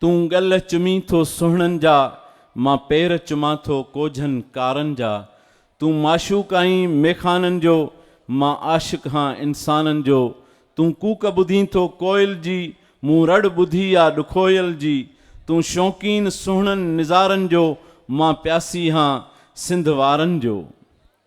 تون ڳل چمين ٿو سهڻن جا، مان پير چمان ٿو ڪوجهن ڪارن جا. تون معشوق آهين ميخانن جو، مان عاشق هان انسانن جو. تون ڪوڪ ٻڌين ٿو ڪوئل جي، مون رڙ ٻڌي آ ڏکوئل جي. تون شوقين سهڻن نظارن جو، مان پياسي هان سنڌ وارن جو.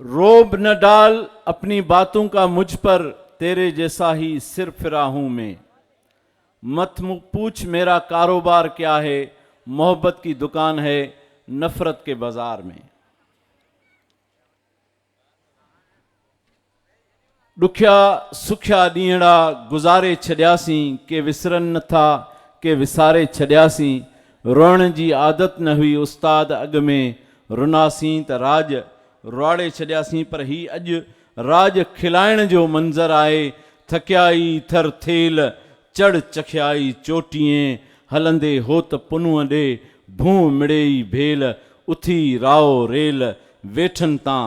روب نه ڊال اپني باتون ڪا مجھ پر تيري جيسا هي سر ڦرا هون مين مت پوڇ ميرا ڪاروبار ڪيا هي محبت ڪي دڪان هي نفرت ڪي بازار مين. ڏکيا سکيا ڏينهڙا گذاري ڇڏياسين، ڪي وسرن نه ٿا، ڪي وساري ڇڏياسين، روئڻ جي عادت نه هئي استاد اڳ ۾ رناسين ته راڄ روئاڙي ڇڏياسين پر هي اڄ راڄ کلائڻ جو منظر آهي ٿڪيائي ٿر ٿيل چڙ چکيائي چوٽيئين هلندي هوت پنونء ڏي ڀونء مڙيئي ڀيل اٿي راء ريل ويٺن تان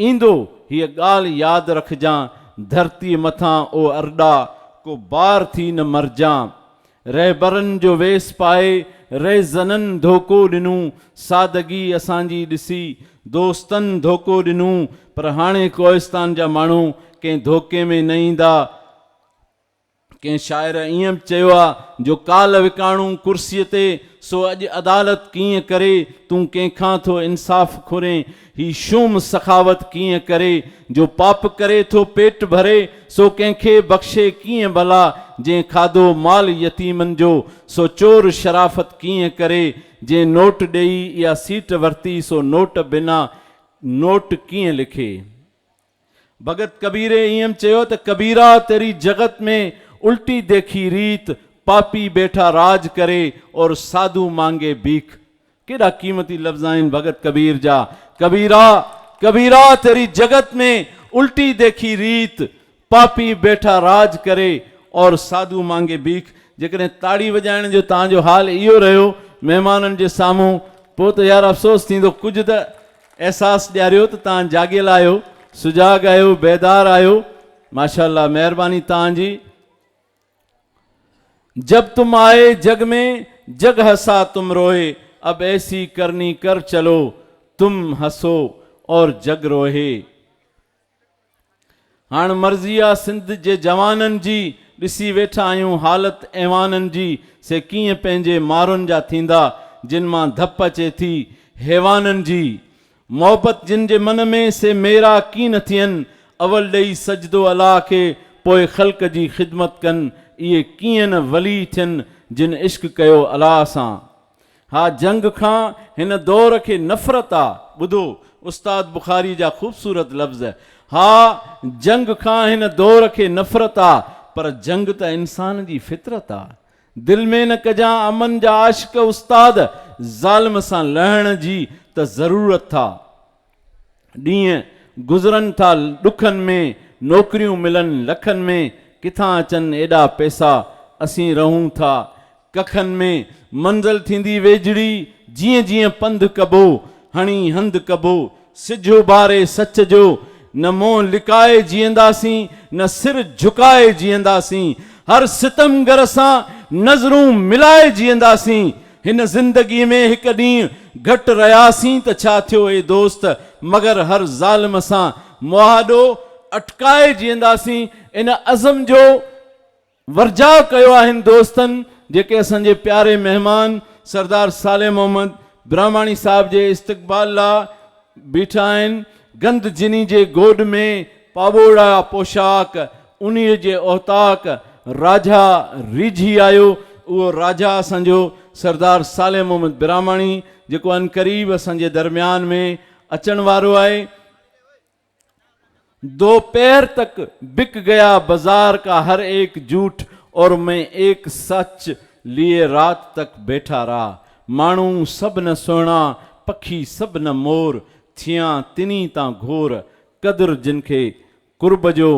ايندو، هيء ڳالهه ياد رکجان، ڌرتيء مٿان او ارڏا، ڪو بار ٿي نه مرجان. رهبرن جو ويس پائي، رهزنن ڌوڪو ڏنو، سادگي اسان جي ڏسي، دوستن ڌوڪو ڏنو، پر هاڻي ڪوهستان جا ماڻهو ڪنهن ڌوڪي ۾ نه ايندا، ڪنهن شاعر ائين به چيو آ جو ڪالهه وڪاڻو ڪرسيء تي سو اڄ عدالت ڪيئن ڪري تون ڪنهن کان ٿو انصاف کورين هي شوم سخاوت ڪيئن ڪري جو پاپ ڪري ٿو پيٽ ڀري سو ڪنهن کي بخشي ڪيئن ڀلا جنهن کاڌو مال يتيمن جو سو چور شرافت ڪيئن ڪري جنهن نوٽ ڏيئي اها سيٽ ورتي سو نوٽ بنا نوٽ ڪيئن لکي. ڀڳت ڪبيري ايم چيو ته ڪبيرا تيري جڳت ۾ الٽي ديکي ريت، پاپي بيٺا راج ڪري اور ساڌو مانگي ڀيک. ڪيڏا قيمتي لفظ آهن ڀڳت ڪبير جا، ڪبيرا، ڪبيرا تيري جڳت ۾ الٽي ديکي ريت، پاپي بيٺا راج ڪري اور ساڌو مانگي ڀيک. جيڪڏهن تاڙي وڄائڻ جو توهان جو حال اهو رهيو مهمانن جي سامهون پوء ته يار افسوس ٿيندو ڪجهه ته احساس ڏياريو ته تان جاڳيل آهيو سجاڳ آهيو بيدار آهيو ماشاءالله مهرباني تان جي. جب تم آئي جگ مين جگ هسا تم روهي اب ايسي ڪرني ڪر چلو تم هسو اور جگ روهي. هاڻ مرضي آ سنڌ جي جوانن جي، ڏسي ويٺا آهيون حالت ايوانن جي، سي ڪيئن پنهنجي مارن جا ٿيندا، جن مان ڌپ اچي ٿي حيوانن جي. محبت جن جي من ۾، سي ميرا ڪين نه ٿين، اول ڏئي سجدو الله کي، پوء خلق جي خدمت ڪن، اهي ڪيئن نه ولي ٿين، جن عشق ڪيو الله سان. ها جنگ کان هن دور کي نفرت آ. ٻڌو استاد بخاري جا خوبصورت لفظ. ها جنگ کان هن دور کي نفرت آ. پر جنگ ته انسان جي فطرت آ. دل ۾ نه ڪجان امن جا عاشق استاد. ظالم سان لهڻ جي ته ضرورت ٿا. ڏينهن گذرن ٿا ڏکن ۾، نوڪريون ملن لکن ۾، ڪٿان اچن ايڏا پئسا، اسين رهون ٿا ڪکن ۾، منزل ٿيندي ويجهڙي، جيئن جيئن پنڌ ڪبو، هڻي هنڌ ڪبو، سج اڀاري سچ جو، نه منهن لڪائي جيئنداسين، نه سر جهڪائي جيئنداسين، هر ستمگر سان نظرون ملائي جيئنداسين، هن زندگي ۾ هڪ ڏينهن گهٽ رهياسين ته ڇا ٿيو اي دوست، مگر هر ظالم سان مهاڏو اٽڪائي جيئنداسين، ان عزم جو ورجاء ڪيو آهن دوستن جيڪي اسان جي پياري مهمان سردار صالح محمد براهماڻي صاحب جي استقبال لاء بيٺا آهن، گند جني جي گوڏ ۾ پاٻوڙا پوشاڪ، انهيء جي اوطاق راجها ريجهي آيو، اهو راجها اسان جو سردار صالح محمد براهماڻي، جيڪو عنقريب اسان جي درميان ۾ اچڻ وارو آهي. دوپهر تڪ بڪ گيا بزار ڪا هر ايڪ جوٺ اور مين ايڪ سچ ليئي رات تڪ بيٺا را ماڻهو سڀ نه سهڻا پکي سڀ نه مور ٿيان تني تان گهور قدر جن کي قرب جو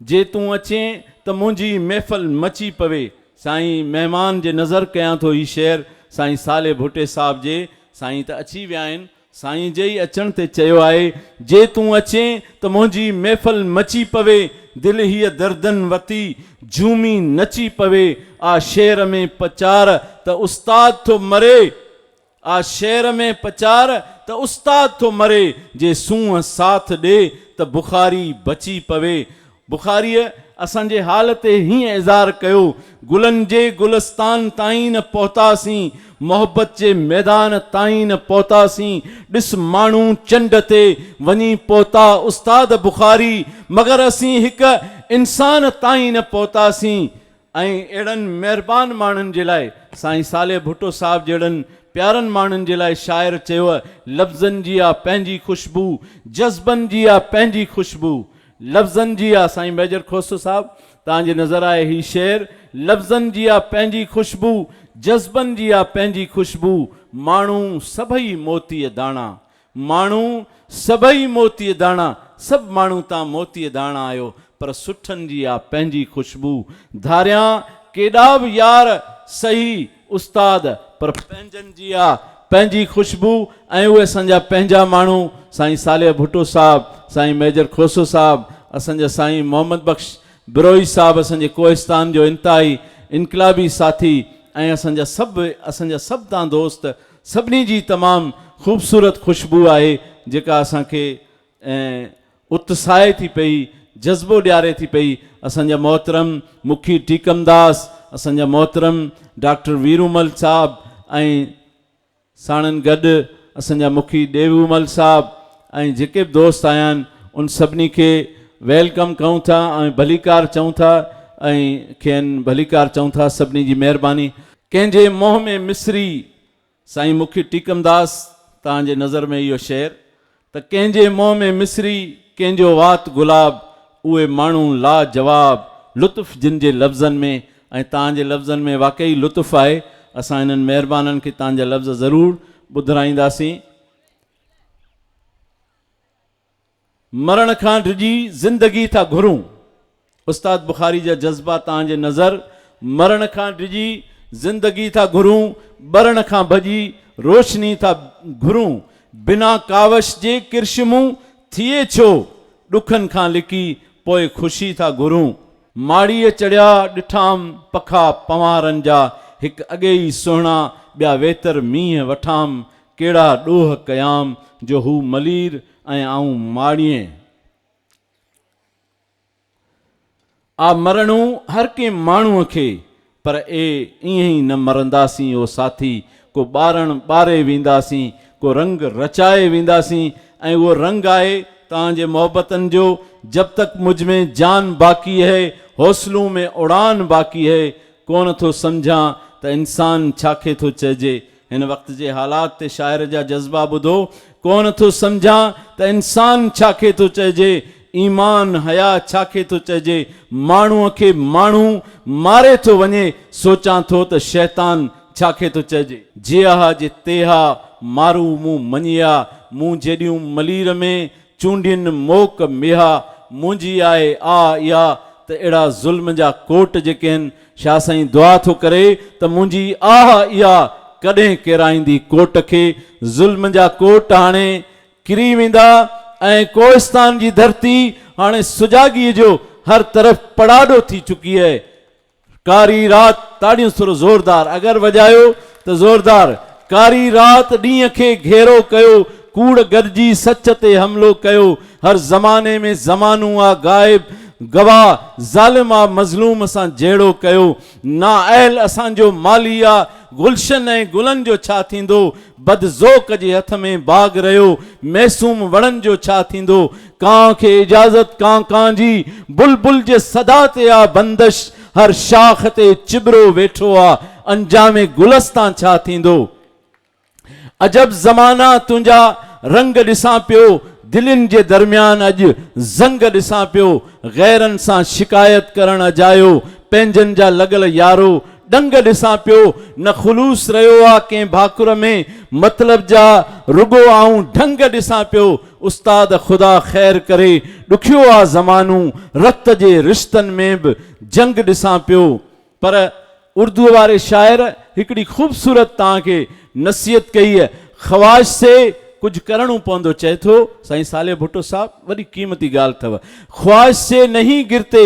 جي تون اچين ته منهنجي محفل مچي پوي. سائين مهمان جي نظر ڪيان ٿو هي شعر سائين صالح ڀٽي صاحب جي سائين ته اچي ويا آهن سائين جي ئي اچڻ تي چيو آهي جي تون اچين ته منهنجي محفل مچي پوي دل هيء دردن وتي جهومي نچي پوي آ شعر ۾ پچار ته استاد ٿو مري آ شعر ۾ پچار ته استاد ٿو مري جي سونهن ساٿ ڏي ته بخاري بچي پوي. بخاريء اسان جي حال تي هيئن اظهار ڪيو، گلن جي گلستان تائين نه پهتاسين، محبت جي ميدان تائين نه پهتاسين، ڏس ماڻهو چنڊ تي وڃي پهتا استاد بخاري، مگر اسين هڪ انسان تائين نه پهتاسين. ۽ اهڙن مهربان ماڻهن جي لاء سائين صالح ڀٽو صاحب جهڙن پيارن ماڻهن جي لاء شاعر چيوء لفظن جي آ پنهنجي خوشبو جذبن جي آ پنهنجي خوشبو لفظن جي آ سائين ميجر کوسو صاحب توهان جي نظر آهي هي شعر لفظن جي آ پنهنجي خوشبو جذبن جي آ پنهنجي خوشبو ماڻهو سڀئي موتيء داڻا ماڻهو سڀئي موتي داڻا سڀ ماڻهو تان موتي داڻا آهيو پر سٺن جي آ پنهنجي خوشبو ڌاريان ڪيڏا به يار سهي استاد پر پنهنجن جي آ پنهنجي خوشبو ۽ اهي اسان جا پنهنجا ماڻهو سائين صالح ڀٽو صاحب سائين ميجر کوسو صاحب اسان جا سائين محمد بخش بروهي صاحب اسان جي ڪوهستان جو انتهائي انقلابي ساٿي ۽ اسان جا سڀ اسان جا سڀ تان دوست سڀني جي تمام خوبصورت خوشبو آهي جيڪا اسان کي ۽ اتساهي ٿي پئي جذبو ڏياري ٿي پئي اسان جا محترم مکي ٽيڪمداس اسان جا محترم ڊاڪٽر ويرومل صاحب ۽ ساڻن گڏ اسان جا مکي ڏيوومل صاحب ۽ جيڪي به دوست آيان ان سڀني کي ويلڪم ڪئون ٿا ۽ ڀليڪار چئون ٿا ۽ کين ڀليڪار چئون ٿا سڀني جي مهرباني ڪنهن جي منهن ۾ مصري سائين مکي ٽيڪمداس تان جي نظر ۾ اهو شعر ته ڪنهن جي منهن ۾ مصري ڪنهن جو وات گلاب اهي ماڻهو لا جواب لطف جن جي لفظن ۾ ۽ تان جي لفظن ۾ واقعي لطف آهي اسان انهن مهربانن کي تان جا لفظ ضرور ٻڌرائينداسين. مرڻ کان ڊڄي زندگي ٿا گهرون. استاد بخاري جا جذبا تان جي نظر مرڻ کان ڊڄي زندگي ٿا گهرون ٻرڻ کان ڀڄي روشني ٿا گهرون بنا ڪاوش جي ڪرشمون ٿئي ڇو ڏکن کان لڪي پوء خوشي ٿا گهرون ماڙيء چڙهيا ڏٺام پکا پنوهارن جا هڪ اڳي ئي سهڻا ٻيا ويتر مينهن وٺام ڪهڙا ڏوهه ڪيام جو هو ملير ۽ آئون ماڙيين آ مرڻو هر ڪنهن ماڻهوء کي، پر اي ائين ئي نه مرنداسين او ساٿي، ڪو ٻارڻ ٻاري وينداسين، ڪو رنگ رچائي وينداسين ۽ اهو رنگ آهي توهان جي محبتن جو، جب تڪ مجھ ۾ جان باقي هي، حوصلون ۾ اڙان باقي هي، ڪونه ٿو سمجهان ته انسان ڇا کي ٿو چئجي، هن وقت جي حالات تي شاعر جا جذبا ٻڌو، ڪونه ٿو سمجهان ته انسان ڇا کي ٿو چئجي، ايمان حيا ڇا کي ٿو چئجي، ماڻهوء کي ماڻهو ماري ٿو وڃي، سوچان ٿو ته شيطان ڇا کي ٿو چئجي. جيئه جي تيها مارو مون مڃيا، مون جيڏيون ملير ۾، چونڊين موڪ ميها منهنجي آهي آ اها ته اهڙا ظلم جا ڪوٽ جيڪي هن شاهه سائين دعا ٿو ڪري ته منهنجي آهه اها ڪڏهن ڪيرائيندي ڪوٽ کي ظلم جا ڪوٽ هاڻي ڪري ويندا ۽ ڪوهستان جي ڌرتي هاڻي سجاڳي جو هر طرف پڙاڏو ٿي چڪي اهي ڪاري رات تاڙيون سر زوردار اگر وڄايو ته زوردار ڪاري رات ڏينهن کي گهيرو ڪيو ڪوڙ گڏجي سچ تي حملو ڪيو هر زماني ۾ زمانو آ غائب گواهه ظالم آ مظلوم سان جهيڙو ڪيو نااهل اسان جو مالهي آ گلشن ۽ گلن جو ڇا ٿيندو بد ذوق جي هٿ ۾ باغ رهيو معصوم وڻن جو ڇا ٿيندو ڪانء کي اجازت ڪانء ڪانء جي بلبل جي صدا تي آ بندش هر شاخ تي چٻرو ويٺو آ انجام گلستان ڇا ٿيندو عجب زمانا تنهنجا رنگ ڏسان پيو دلين جي درميان اڄ زنگ ڏسان پيو غيرن سان شڪايت ڪرڻ اجايو پنهنجن جا لڳل يارو ڏنگ ڏسان پيو، نه خلوص رهيو آ ڪنهن ڀاڪر ۾، مطلب جا رڳو آئون ڍنگ ڏسان پيو، استاد خدا خير ڪري، ڏکيو آ زمانو، رت جي رشتن ۾ به جنگ ڏسان پيو. پر اردوء واري شاعر هڪڙي خوبصورت توهان کي نصيحت ڪئي هي، خواهش سي ڪجهه ڪرڻو پوندو چئي ٿو سائين صالح ڀٽو صاحب وڏي قيمتي ڳالهه اٿو، خواهش سي نهين گرتي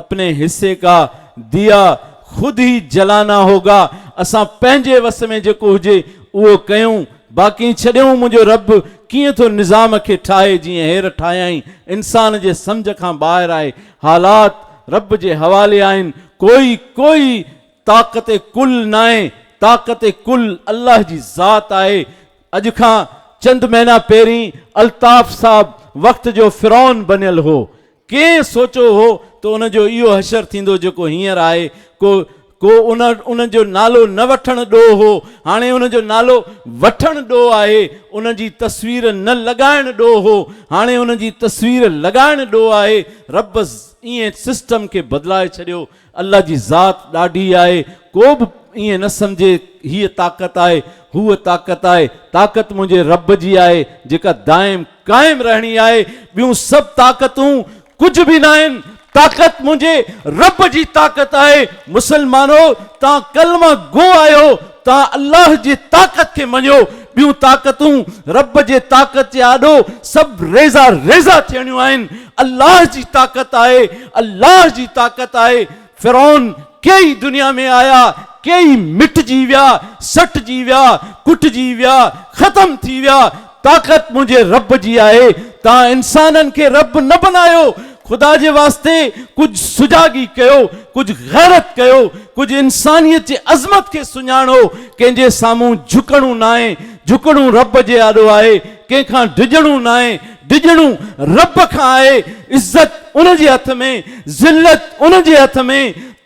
اپني حصي ڪا ديا خود هي جلانا هوگا اسان پنهنجي وس ۾ جيڪو هجي اهو ڪيون باقي ڇڏيون منهنجو رب ڪيئن ٿو نظام کي ٺاهي جيئن هير ٺاهيائين انسان جي سمجهه کان ٻاهر آهي حالات رب جي حوالي آهن ڪوئي ڪوئي طاقت ڪل ناهي طاقت ڪل الله جي ذات آهي اڄ کان چند مهينا پهرين الطاف صاحب وقت جو فرعون بنيل هو ڪنهن سوچيو هو ته ان جو اهو حشر ٿيندو جيڪو هينئر آهي. ڪو ڪو ان ان جو نالو نه وٺڻ ڏوهه هو، هاڻي ان جو نالو وٺڻ ڏوهه آهي. ان جي تصوير نه لڳائڻ ڏوهه هو، هاڻي ان جي تصوير لڳائڻ ڏوهه آهي. رب ائين سسٽم کي بدلائي ڇڏيو. الله جي ذات ڏاڍي آهي، ڪو به ائين نه سمجهي هيء طاقت آهي، هوء طاقت آهي، طاقت منهنجي رب جي آهي، جيڪا دائم قائم رهڻي آهي، ٻيون سڀ طاقتون ڪجهه به ناهن، طاقت منهنجي رب جي طاقت آهي، مسلمانو! توهان ڪلمه گو آهيو، توهان الله جي طاقت کي مڃيو، ٻيون طاقتون رب جي طاقت جي آڏو سڀ ريزا ريزا ٿيڻيون آهن، الله جي طاقت آهي، الله جي طاقت آهي، فرعون ڪيئي دنيا ۾ آيا، ڪيئي مٽجي ويا، سٽجي ويا، ڪٽجي ويا، ختم ٿي ويا، طاقت منهنجي رب جي آهي، توهان انسانن کي رب نه بنايو، خدا جي واسطي ڪجهه سجاڳي ڪيو، ڪجهه غيرت ڪيو، ڪجهه انسانيت جي عظمت کي سڃاڻو، ڪنهن جي سامهون جهڪڻو ناهي، جهڪڻو رب جي آڏو آهي، ڪنهن کان ڊڄڻو ناهي، ڊڄڻو رب کان آهي، عزت ان جي هٿ ۾، ذلت ان جي هٿ ۾،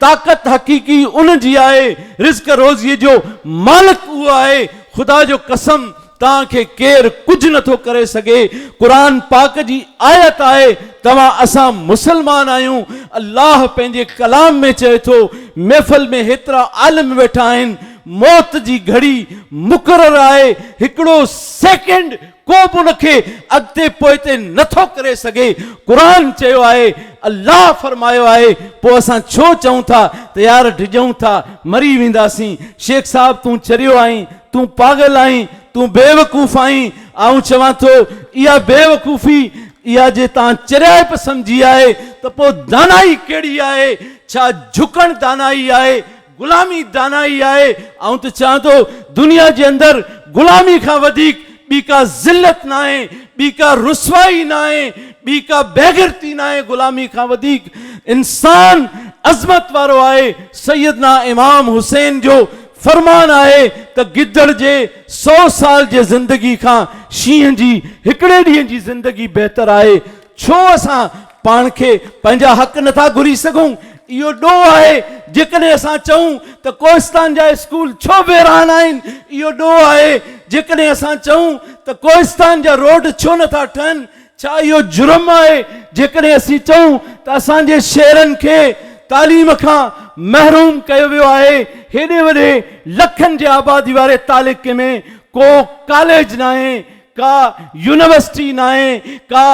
طاقت حقيقي ان جي آهي، رزق روزيء جو مالڪ اهو آهي، خدا جو قسم! توهان کي ڪير ڪجهه نه ٿو ڪري سگهي. قرآن پاڪ جي آيت آهي توهان اسان مسلمان آهيون. الله پنهنجي ڪلام ۾ چئي ٿو محفل ۾ هيترا عالم ويٺا آهن موت جي گهڙي مقرر آهي هڪڙو سيڪنڊ ڪو به ان کي اڳتي پوئتي نه ٿو ڪري سگهي قرآن چيو آهي الله فرمايو آهي پوء اسان ڇو چئون ٿا ته يار ڊڄون ٿا مري وينداسين شيخ صاحب تون چريو آهين تون پاڳل آهين، تون بيوقوف آهين، آئون چوان ٿو اها بيوقوفي اها جي تان چريائپ سمجهي آهي ته پوء دانائي ڪهڙي آهي؟ ڇا جهڪڻ دانائي آهي؟ غلامي دانائي آهي؟ آئون ته چوان ٿو دنيا جي اندر غلامي کان وڌيڪ ٻي ڪا ذلت ناهي، ٻي ڪا رسوائي ناهي، ٻي ڪا بيغيرتي ناهي غلامي کان وڌيڪ انسان عظمت وارو آهي، سيدنا امام حسين جو فرمان آهي ته گدڙ جي سؤ سال جي زندگي کان شينهن جي هڪڙي ڏينهن جي زندگي بهتر آهي. ڇو اسان پاڻ کي پنهنجا حق نٿا گهري سگهون؟ اهو ڏوهه آهي. جيڪڏهن اسان چئون ته ڪوهستان جا اسڪول ڇو ويران آهن؟ اهو ڏوهه آهي. جيڪڏهن اسان چئون ته ڪوهستان جا روڊ ڇو نٿا ٺهن؟ ڇا اهو جرم آهي جيڪڏهن اسين چئون ته اسان جي شهرن کي تعليم کان محروم ڪيو ويو آهي؟ هيڏي وڏي لکن جي آبادي واري تعلقي ۾ ڪو ڪاليج ناهي، ڪا يونيورسٽي ناهي، ڪا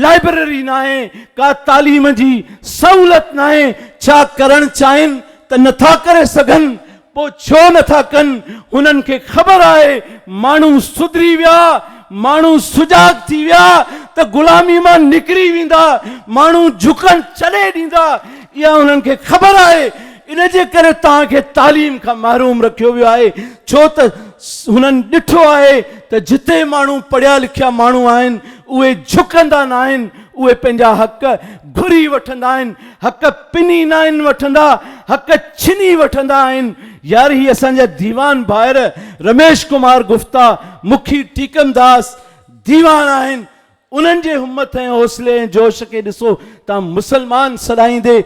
لائبرري ناهي، ڪا تعليم جي سهولت ناهي، ڇا ڪرڻ چاهين ته نٿا ڪري سگهن؟ پوء ڇو نه ٿا ڪن؟ هنن کي خبر آهي ماڻهو سڌري ويا، ماڻهو سجاڳ ٿي ويا ته غلامي مان نڪري ويندا، ماڻهو جهڪڻ ڇڏي ڏيندا، اها هنن کي خبر آهي، ان جي ڪري توهان کي تعليم کان محروم رکيو ويو آهي، ڇو ته هنن ڏٺو آهي ته جتي ماڻهو پڙهيا لکيا ماڻهو آهن، اهي جهڪندا ناهن، اهي پنهنجا حق گهري وٺندا آهن، حق پني ناهن وٺندا، حق ڇني وٺندا آهن. يار هي اسان جا ديوان ڀائر رميش ڪمار گفتا، مکي ٽيڪم داس ديوان آهن. انهن جي همٿ ۽ حوصلي ۽ جوش کي ڏسو ته مسلمان سڏائيندي،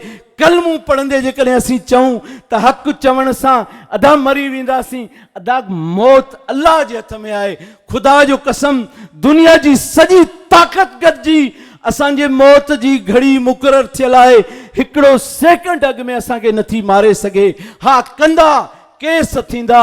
ڪلمون پڙهندي جيڪڏهن اسين چئون ته حق چوڻ سان ادا مري وينداسين ادا موت الله جي هٿ ۾ آهي خدا جو قسم دنيا جي سڄي طاقت گڏجي اسان جي موت جي گهڙي مقرر ٿيل آهي هڪڙو سيڪنڊ اڳ ۾ اسان کي نٿي ماري سگهي ها ڪندا ڪيس ٿيندا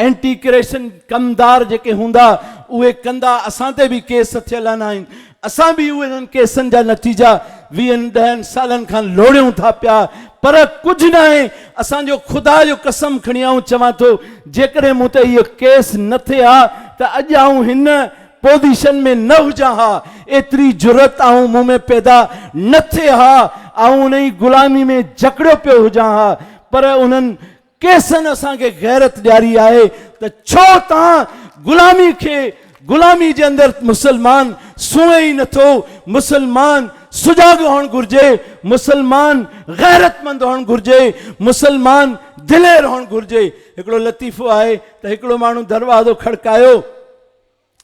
اينٽي ڪريشن ڪم دار جيڪي هوندا اهي ڪندا اسان تي به ڪيس ٿيل نه آهن اسان به اهي انهن ڪيسن جا نتيجا ويهن ڏهن سالن کان لوڙيون ٿا پيا پر ڪجهه ناهي اسان جو خدا جو قسم کڻي آئون چوان ٿو جيڪڏهن مون تي اهو ڪيس نه ٿئي ها ته اڄ آئون هن پوزيشن ۾ نه هجان ها ايتري جرئت آئون مون ۾ پيدا نه ٿئي ها آئون انهي غلامي ۾ جڪڙيو پيو هجان ها پر انهن ڪيسن اسان کي غيرت ڏياري آهي ته ڇو تان غلامي کي غلامي جي اندر مسلمان سونهي ئي نٿو مسلمان سجاڳ هئڻ گهرجي مسلمان غيرت مند هئڻ گهرجي مسلمان دلير هئڻ گهرجي هڪڙو لطيفو آهي ته هڪڙو ماڻهو دروازو کڙڪايو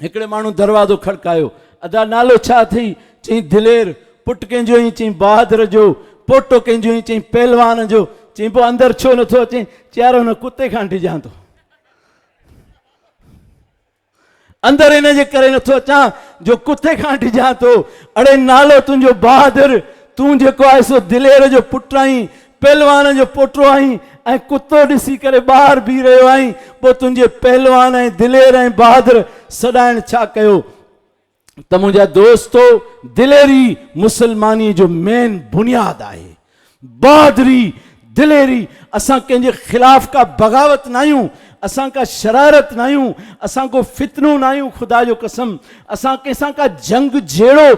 هڪڙي ماڻهو دروازو کڙڪايو. ادا نالو ڇا اٿئي؟ چيائين دلير. پٽ ڪنهن جو آهين؟ چيائين بهادر جو. پوٽو ڪنهن جو آهين؟ چيائين پهلوان جو. چيائين پوء اندر ڇو نه ٿو اچين؟ چيائين يار هن ڪتي کان ڊڄان ٿو. اندر ان جي ڪري نه ٿو اچان جو ڪتي کان ڊڄان ٿو. اڙي نالو تنهنجو بهادر، تون جيڪو آهي سو دلير جو پٽ آهين. پهلوان جو پوٽو آهين ۽ ڪتو ڏسي ڪري ٻاهر بيهي رهيو آهين، پوء تنهنجي پهلوان ۽ دلير ۽ بهادر سڏائڻ ڇا ڪيو؟ ته منهنجا دوستو دليري مسلماني جو مين بنياد آهي. بهادري، دليري، اسان ڪنهن جي خلاف ڪا بغاوت ناهيون، اسان ڪا شرارت ناهيون، اسان ڪو فتنو ناهيون خدا جو قسم اسان ڪنهن سان ڪا جنگ جهيڙو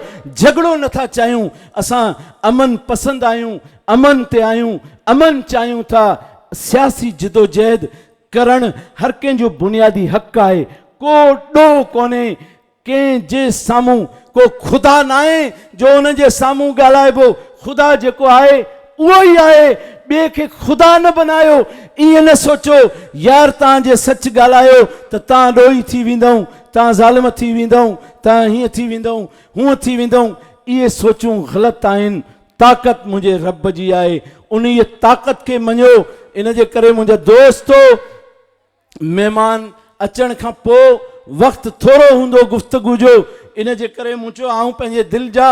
جهڳڙو نٿا چاهيون، اسان امن پسند آهيون، امن تي آهيون، امن چاهيون ٿا، سياسي جدوجهد ڪرڻ هر ڪنهن جو بنيادي حق آهي، ڪو ڏوهه ڪونهي، ڪنهن جي سامهون ڪو خدا ناهي جو ان جي سامهون ڳالهائبو، خدا جيڪو آهي اهو ئي آهي، ٻئي کي خدا نه بنايو، ائين نه سوچو يار تان جي سچ ڳالهايو ته تان ڏوهي ٿي ويندؤن، تان ظالم ٿي ويندؤن، تان هيئن ٿي ويندؤن، هونئن ٿي ويندؤن، اهي سوچون غلط آهن، طاقت منهنجي رب جي آهي، انهيء طاقت کي مڃو، ان جي ڪري منهنجا دوستو! مهمان اچڻ کان پوء وقت ٿورو هوندو گفتگو جو، ان جي ڪري مون چيو آئون پنهنجي دل جا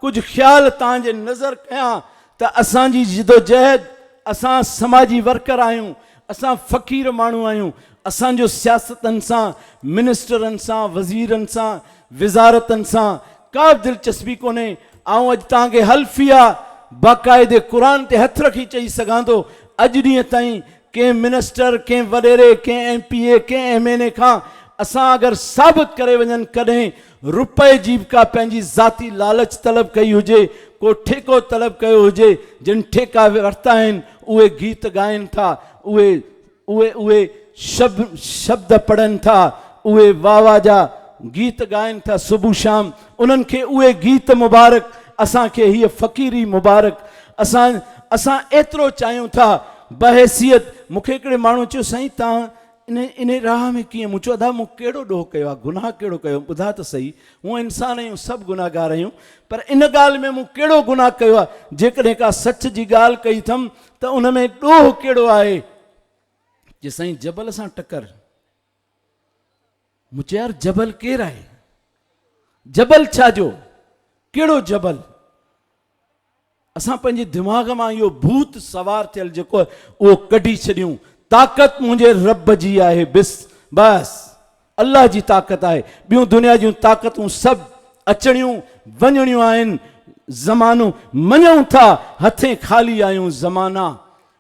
ڪجهه خيال توهان جي نظر ڪيان ته اسان جي جدوجهد، اسان سماجي ورڪر آهيون، اسان فقير ماڻهو آهيون، اسان جو سياستدن سان، منسٽرن سان، وزيرن سان، وزارتن سان ڪا به دلچسپي ڪونهي. آئون اڄ توهان کي حلفيه يا باقاعدي قرآن تي هٿ رکي چئي سگهان ٿو، اڄ ڏينهن تائين ڪنهن منسٽر، ڪنهن وڏيري، ڪنهن ايم پي اي، ڪنهن ايم اين اي کان اسان اگر ثابت ڪري وڃن ڪڏهن روپئي جي به ڪا پنهنجي ذاتي لالچ طلب ڪئي هجي، ڪو ٺيڪو طلب ڪيو هجي، جن ٺيڪا ورتا آهن، اهي گيت ڳائن ٿا، اهي اهي اهي شب شبد پڙهن ٿا، اهي واهه واهه جا گيت ڳائن ٿا صبح شام، انهن کي اهي گيت مبارڪ، اسان کي هيء فقيري مبارڪ، اسان اسان ايترو چاهيون ٿا، بحيثيت مون کي هڪڙي ماڻهوء چيو سائين توهان انهيء راهه ۾ ڪيئن؟ مون چيو، ادا مون ڪهڙو ڏوهه ڪيو آهي، گناهه ڪهڙو ڪيو آهي، ٻڌاء ته سهي، هونئن انسان آهيون، سڀ گناهگار آهيون، پر ان ڳالهه ۾ مون ڪهڙو گناهه ڪيو آهي، جيڪڏهن ڪا سچ جي ڳالهه ڪئي اٿم ته ان ۾ ڏوهه ڪهڙو آهي؟ چيس، سائين جبل سان ٽڪر. مون چيو، يار جبل ڪير آهي؟ جبل ڇا جو؟ ڪهڙو جبل؟ اسان پنهنجي دماغ مان اهو ڀوت سوار ٿيل جيڪو آهي اهو ڪڍي ڇڏيون. طاقت منهنجي رب جي آهي بس بس الله جي طاقت آهي ٻيون دنيا جون طاقتون سڀ اچڻيون وڃڻيون آهن زمانو مڃون ٿا هٿين خالي آهيون زمانا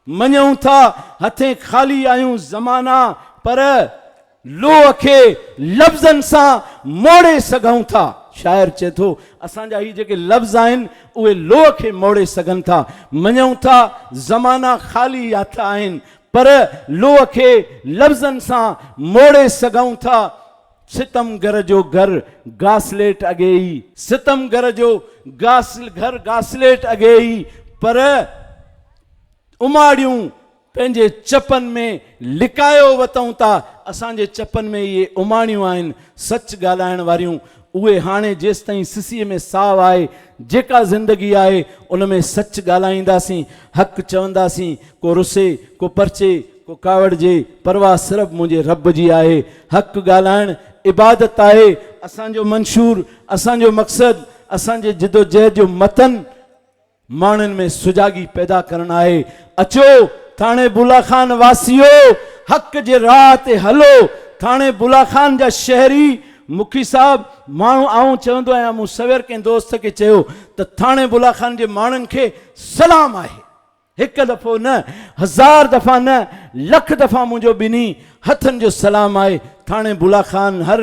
مڃون ٿا هٿين خالي آهيون زمانا پر لوهه کي لفظن سان موڙي سگهون ٿا. شاعر چئي ٿو اسان جا هي جيڪي لفظ آهن اهي لوهه کي موڙي سگهن ٿا. مڃون ٿا زمانا خالي هٿ آهن پر لوهه کي لفظن سان موڙي سگهون ٿا. ستمگر جو گهر گاسليٽ اڳي ئي. ستمگر جو گهر گاسليٽ اڳي ئي پر اماڙيون پنهنجي چپن ۾ لڪايو وتئون ٿا. اسان جي چپن ۾ اهي اماڻيون آهن سچ ڳالهائڻ واريون. اهي هاڻي جيستائين سسي ۾ ساهه آهي، جيڪا زندگي آهي ان ۾ سچ ڳالهائينداسين، حق چونداسين، ڪو رسي، ڪو پرچي، ڪو ڪاوڙجي، پرواهه صرف منهنجي رب جي آهي. حق ڳالهائڻ عبادت آهي. اسان جو منشور، اسان جو مقصد، اسان جي جدوجهد جو متن ماڻهن ۾ سجاڳي پيدا ڪرڻ آهي. اچو ٿاڻي بولا خان واسيو! حق جي راهه تي هلو. ٿاڻي بولا خان جا شهري، مکي صاحب، ماڻهو آئون چوندو آهيان مون سوير ڪنهن دوست کي چيو ته ٿاڻي بولا خان جي ماڻهن کي سلام آهي. هڪ دفعو نه، هزار دفعا نه، لک دفعا منهنجو ٻنهي هٿن جو سلام آهي ٿاڻي بلا خان هر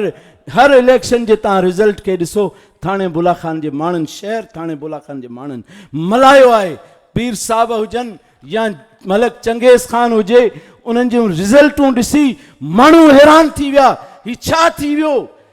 هر اليڪشن جي تان رزلٽ کي ڏسو ٿاڻي بلا خان جي ماڻهن شهر ٿاڻي بلا خان جي ماڻهن ملايو آهي پير صاحب هجن يا ملڪ چنگيز خان هجي انهن جون رزلٽون ڏسي ماڻهو حيران ٿي ويا هي ڇا ٿي ويو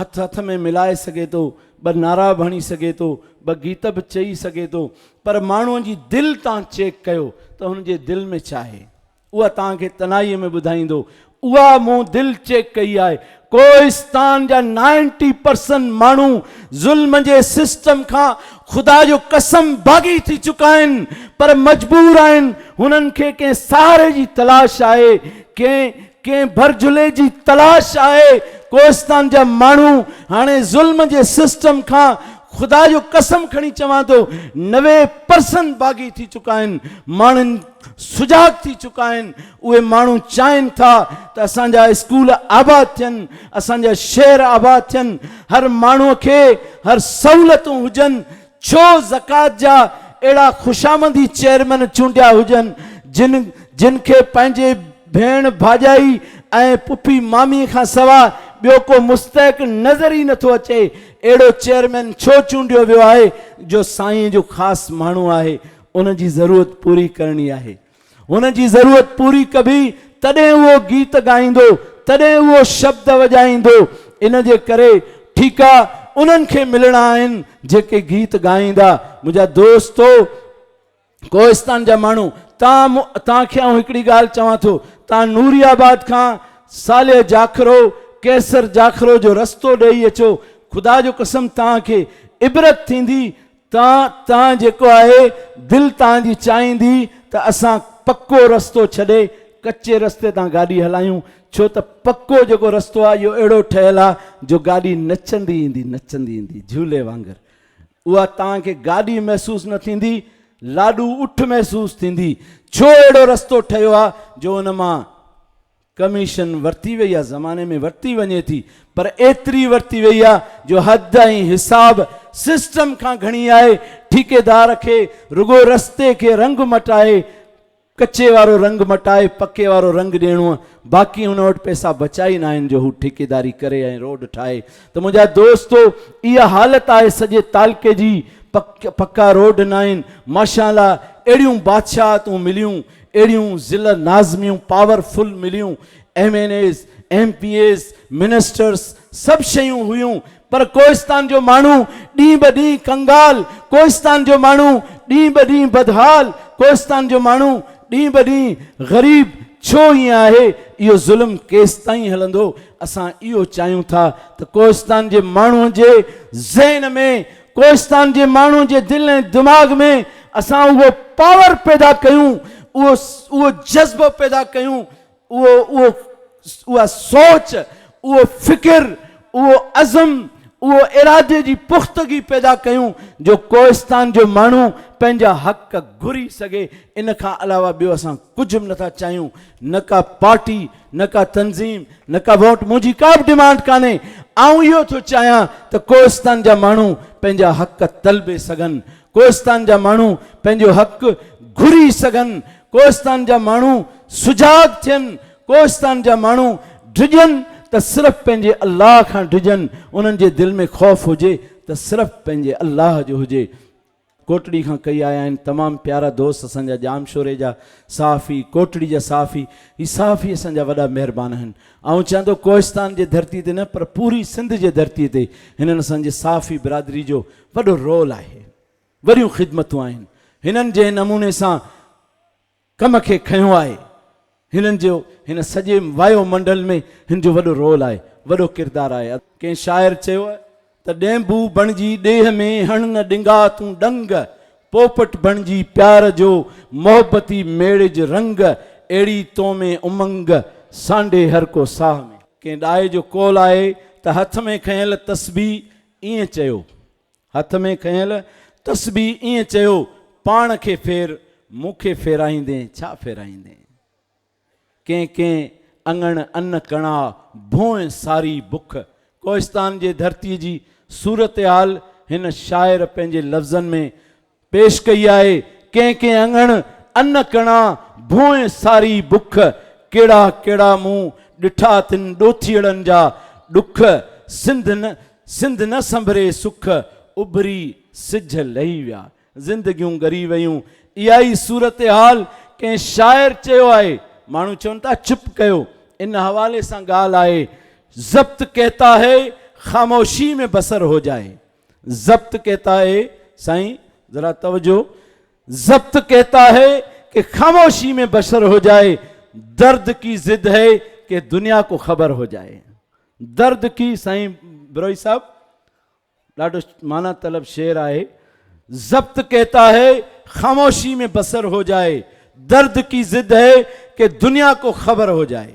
هٿ هٿ ۾ ملائي سگهي ٿو، ٻه نعرا به هڻي سگهي ٿو، ٻه گيت به چئي سگهي ٿو، پر ماڻهوء جي دل تان چيڪ ڪيو ته هن جي دل ۾ ڇا آهي؟ اها توهان کي تنهائيء ۾ ٻڌائيندو. اها مون دل چيڪ ڪئي آهي. ڪوهستان جا نائنٽي پرسنٽ ماڻهو ظلم جي سسٽم کان خدا جو قسم باغي ٿي چڪا آهن، پر مجبور آهن، هنن کي ڪنهن سهاري جي تلاش آهي، ڪنهن ڪنهن ڀرجهلي جي تلاش آهي، ڪوهستان جا ماڻهو هاڻي ظلم جي سسٽم کان خدا جو قسم کڻي چوان ٿو نوي پرسن باغي ٿي چڪا آهن ماڻهن سجاڳ ٿي چڪا آهن اهي ماڻهو چاهين ٿا ته اسان جا اسڪول آباد ٿين اسان جا شهر آباد ٿين هر ماڻهو کي هر سهولتون هجن ڇو زڪوات جا اهڙا خوشامندي چيئرمين چونڊيا هجن جن جن کي پنهنجي ڀيڻ ڀاڄائي ۽ پڦي مامي کان سوا ٻيو ڪو مستحق نظر ئي نٿو اچي اهڙو چيئرمين ڇو چونڊيو ويو آهي جو سائين جو خاص ماڻهو آهي ان جي ضرورت پوري ڪرڻي آهي. هن جي ضرورت پوري ڪبي تڏهن اهو گيت ڳائيندو، تڏهن اهو شبد وڄائيندو، ان جي ڪري ٺيڪا انهن کي ملڻا آهن جيڪي گيت ڳائيندا. منهنجا دوستو ڪوهستان جا ماڻهو تان تان کي آئون هڪڙي ڳالهه چوان ٿو تان نوري آباد کان صالح جاکرو قيصر جاکرو جو رستو ڏيئي اچو خدا جو قسم تان کي عبرت ٿيندي تان تان جيڪو آهي دل تان جي چاهيندي ته اسان پڪو رستو ڇڏي ڪچي رستي تان گاڏي هلايون ڇو ته پڪو جيڪو رستو آهي اهو اهڙو ٺهيل آهي جو گاڏي نچندي ايندي نچندي ايندي جهولي وانگر اها توهان کي گاڏي محسوس نه ٿيندي لاڏو اٺ محسوس ٿيندي ڇو اهڙو رستو ٺهيو آهي جو ان مان ڪميشن ورتي وئي آهي زماني ۾ ورتي وڃي ٿي پر ايتري ورتي وئي آهي جو حد ۽ حساب سسٽم کان گهڻي آهي ٺيڪيدار کي رڳو رستي کي رنگ مٽائي ڪچي وارو رنگ مٽائي پڪي وارو رنگ ڏيڻو باقي هن وٽ پئسا بچا ئي ناهن جو هو ٺيڪيداري ڪري ۽ روڊ ٺاهي ته منهنجا دوستو اها حالت آهي سڄي تعلقي جي پڪا روڊ ناهن ماشاءالله اهڙيون بادشاهتون مليون اهڙيون ضلع ناظميون پاور فل مليون، M N As, M P As, ministers سڀ شيون هيون پر ڪوهستان جو ماڻهو ڏينهن به ڏينهن ڪنگال، ڪوهستان جو ماڻهو ڏينهن به ڏينهن بدحال، ڪوهستان جو ماڻهو ڏينهن به ڏينهن غريب ڇو ائين آهي؟ اهو ظلم ڪيستائين هلندو؟ اسان اهو چاهيون ٿا ته ڪوهستان جي ماڻهو جي ذهن ۾ ڪوهستان جي ماڻهو جي دل ۽ دماغ ۾ اسان اهو پاور پيدا ڪيون، اهو اهو جذبو پيدا ڪيون، اهو اهو اها سوچ، اهو فڪر، اهو عزم، اهو ارادي جي پختگي پيدا ڪيون جو ڪوهستان جو ماڻهو پنهنجا حق گهري سگهي، ان کان علاوه ٻيو اسان ڪجهه به نٿا چاهيون، نه ڪا پارٽي، نه ڪا تنظيم نه ڪا ووٽ منهنجي ڪا به ڊمانڊ ڪانهي آئون اهو ٿو چاهيان ته ڪوهستان جا ماڻهو پنهنجا حق طلبي سگهن ڪوهستان جا ماڻهو پنهنجو حق گهري سگهن ڪوهستان جا ماڻهو سجاڳ ٿين ڪوهستان جا ماڻهو ڊڄن ته صرف پنهنجي الله کان ڊڄن انهن جي دل ۾ خوف هجي ته صرف پنهنجي الله جو هجي ڪوٽڙي کان ڪئي آيا آهن تمام پيارا دوست اسان جا ڄامشوري جا صحافي ڪوٽڙي جا صحافي هي صحافي اسان جا وڏا مهربان آهن آئون چيان ٿو ڪوهستان جي ڌرتي تي نه پر پوري سنڌ جي ڌرتي تي هنن اسان جي صحافي برادري جو وڏو رول آهي وڏيون خدمتون آهن هنن جنهن نموني سان ڪم کي کنيو آهي. هنن جو هن سڄي وايو منڊل ۾ هن جو وڏو رول آهي، وڏو ڪردار آهي. ڪنهن شاعر چيو ته ڏينڀو بڻجي ڏيهه ۾ هڻ نه ڏنگا تون ڏنگ، پوپٽ بڻجي پيار جو محبتي ميڙج رنگ، اهڙي تو ۾ امنگ، سانڍي هر ڪو ساهه ۾. ڪنهن ڏاهي جو قول آهي ته هٿ ۾ کنيل تسبيح ائين چيو. هٿ ۾ کنيل تسبيح ائين چيو، پاڻ کي ڦير، مون کي ڦيرائيندين ڇا ڦيرائيندين. ڪين ڪين اڱڻ ان ڪڻا ڀونء ساري بک. ڪوهستان جي ڌرتي جي صورتحال هن شاعر پنهنجي لفظن ۾ پيش ڪئي آهي، ڪنهن ڪنهن اڱڻ ان ڪڻا ڀونء ساري بک، ڪهڙا ڪهڙا مون ڏٺا تن ڏوٿيئڙن جا ڏک، سنڌ نه سنڌ نه سنڀري سک، اڀري سج لهي ويا، زندگيون ڳري ويون، اها ئي صورتحال ڪنهن شاعر چيو آهي، ماڻهو چون ٿا چپ ڪيو، ان حوالي سان ڳالهه آهي، ضبط ڪهتا هي خاموشي ۾ بسر هو جائي. ضبط ڪهتا هي سائين ذرا توجه ضبط ڪهتا هي ڪي خاموشي ۾ بشر هو جائي درد ڪي ضد هي ڪي دنيا ڪو خبر هو جائي درد ڪي سائين بروهي صاحب ڏاڍو معنی طلب شعر آهي ضبط ڪهتا هي خاموشي ۾ بسر هو جائي درد ڪي ضد هي ڪي دنيا ڪو خبر هو جائي